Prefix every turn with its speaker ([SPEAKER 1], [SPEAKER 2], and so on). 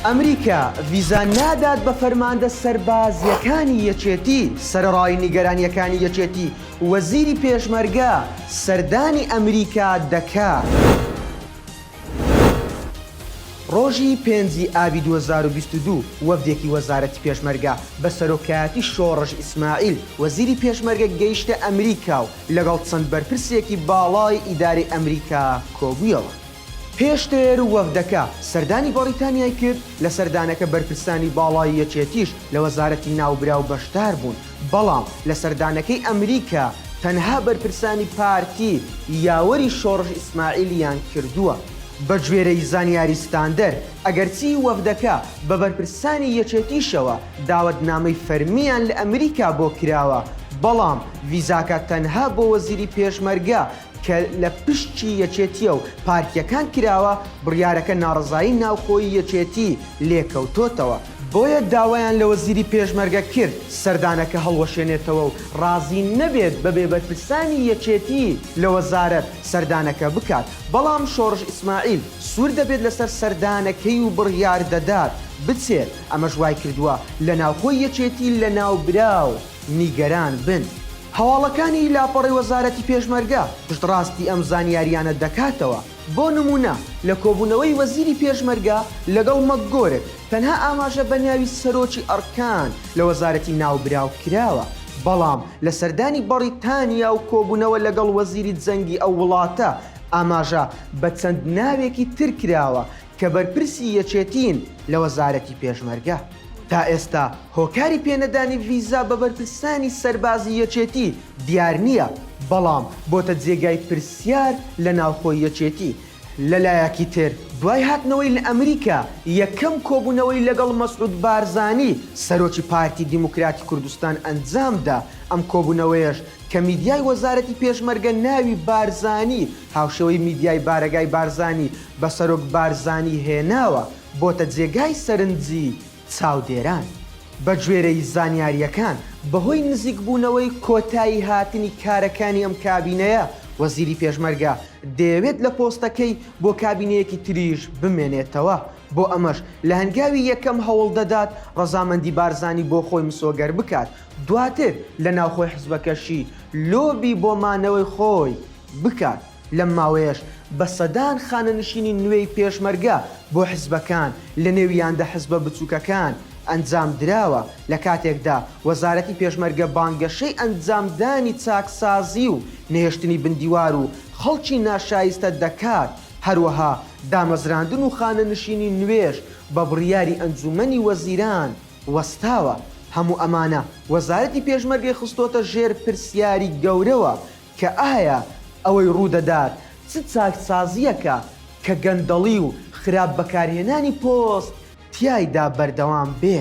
[SPEAKER 1] ئەمریکا ڤیزا نادات بە فەرماندە سەربازییەکانی یەکێتی سەرڕای نیگەرانیەکانی یەکێتی وەزیری پێشمەرگە سەردانی ئەمریکا دەکات. ڕۆژی پێنجی ئابی 2022 وەفدێکی وەزارەتی پێشمەرگە بە سەرۆکایەتی شۆڕش ئیسماعیل وەزیری پێشمەرگە گەیشتە ئەمریکا و لەگەڵ چەند بەرپرسێکی باڵای ئیدارەی ئەمریکا کۆبوویەوە. پێشتر وەفدەکە سەردانی بەڕیتانیای کرد، لە سەردانەکە بەرپرسانی باڵای یەکێتیش لە وەزارەتی ناوبراو بەشداربوون، بەڵام لە سەردانەکەی ئەمریکا تەنها بەرپرسانی پارتی یاوەری شۆڕش ئیسماعیلیان کردووە. بەگوێرەی زانیاری ستاندەر، ئەگەرچی وەفدەکە بە بەرپرسانی یەکێتیشەوە داوەتنامەی فەرمییان لە ئەمریکا بۆ کراوە، بەڵام ڤیزاکە تەنها بۆ وەزیری پێشمەرگە کە لە پشچی یەکێتییە و پارتییەکان کراوە، بڕیارەکە ناڕەزایی ناوخۆیی یەکێتی لێکەوتۆتەوە، بۆیە داوایان لە وەزیری پێشمەرگە کرد سەردانەکە هەڵوەشێنێتەوە و ڕازی نەبێت بەبێ بەرپرسانی یەکێتی لە وەزارەت سەردانەکە بکات، بەڵام شۆڕش ئیسماعیل سوور دەبێت لەسەر سەردانەکەی و بڕیار دەدات بچێت. ئەمەش وایکردووە لە ناوخۆی یەکێتی لە ناوبراو نیگەران بن. هەواڵەکانی لاپەڕەی وەزارەتی پێشمەرگە پشتڕاستی ئەم زانیارییانە دەکاتەوە، بۆ نموونە لە کۆبوونەوەی وەزیری پێشمەرگە لەگەڵ مەکگۆرک تەنها ئاماژە بە ناوی سەرۆکی ئەڕکان لە وەزارەتی ناوبراو کراوە، بەڵام لە سەردانی بەڕیتانیا و کۆبوونەوە لەگەڵ وەزیری جەنگی ئەو وڵاتە ئاماژە بە چەند ناوێکی تر کراوە کە بەرپرسی یەکێتیین لە وەزارەتی پێشمەرگە، تا ئێستا هۆکاری پێنەدانی ڤیزا بە بەرپرسانی سەربازی یەکێتی دیار نییە، بەڵام بۆتە جێگای پرسیار لە ناوخۆی یەکێتی، لە لایەکی تر دوای هاتنەوەی لە ئەمریکا یەکەم کۆبوونەوەی لەگەڵ مەسعود بارزانی سەرۆکی پارتی دیموکراتی کوردستان ئەنجام دا، ئەم کۆبوونەوەیەش کە میدیای وەزارەتی پێشمەرگە ناوی بارزانی هاوشێوەی میدیای بارەگای بارزانی بە سەرۆک بارزانی هێناوە بۆتە جێگای سەرنجی چاودێران. بەگوێرەی زانیارییەکان بەهۆی نزیکبوونەوەی کۆتایی هاتنی کارەکانی ئەم کابینەیە، وەزیری پێشمەرگە دەیەوێت لە پۆستەکەی بۆ کابینەیەکی تریش بمێنێتەوە، بۆ ئەمەش لە هەنگاوی یەکەم هەوڵدەدات رەزامەندی بارزانی بۆ خۆی مسۆگەر بکات، دواتر لە ناوخۆی حزبەکەشی لۆبی بۆ مانەوەی خۆی بکات. لەم ماوەیەش بە سەدان خانەنشینی نوێی پێشمەرگە بۆ حزبەکان، لەنێویان دە حزبە بچووکەکان، ئەنجام دراوە، لە کاتێکدا وەزارەتی پێشمەرگە بانگەشەی ئەنجامدانی چاکسازی و نەهێشتنی بندیوار و خەڵکی ناشایستە دەکات، هەروەها دامەزراندن و خانەنشینی نوێش بە بڕیاری ئەنجوومەنی وەزیران وەستاوە، هەموو ئەمانە وەزارەتی پێشمەرگەی خستۆتە ژێر پرسیاری گەورەوە، کە ئایا ئەوەی ڕوودەدات چ چاکسازییەکە کە گەندەڵی و خراپ بەکارهێنانی پۆست تیایدا بەردەوام بێ.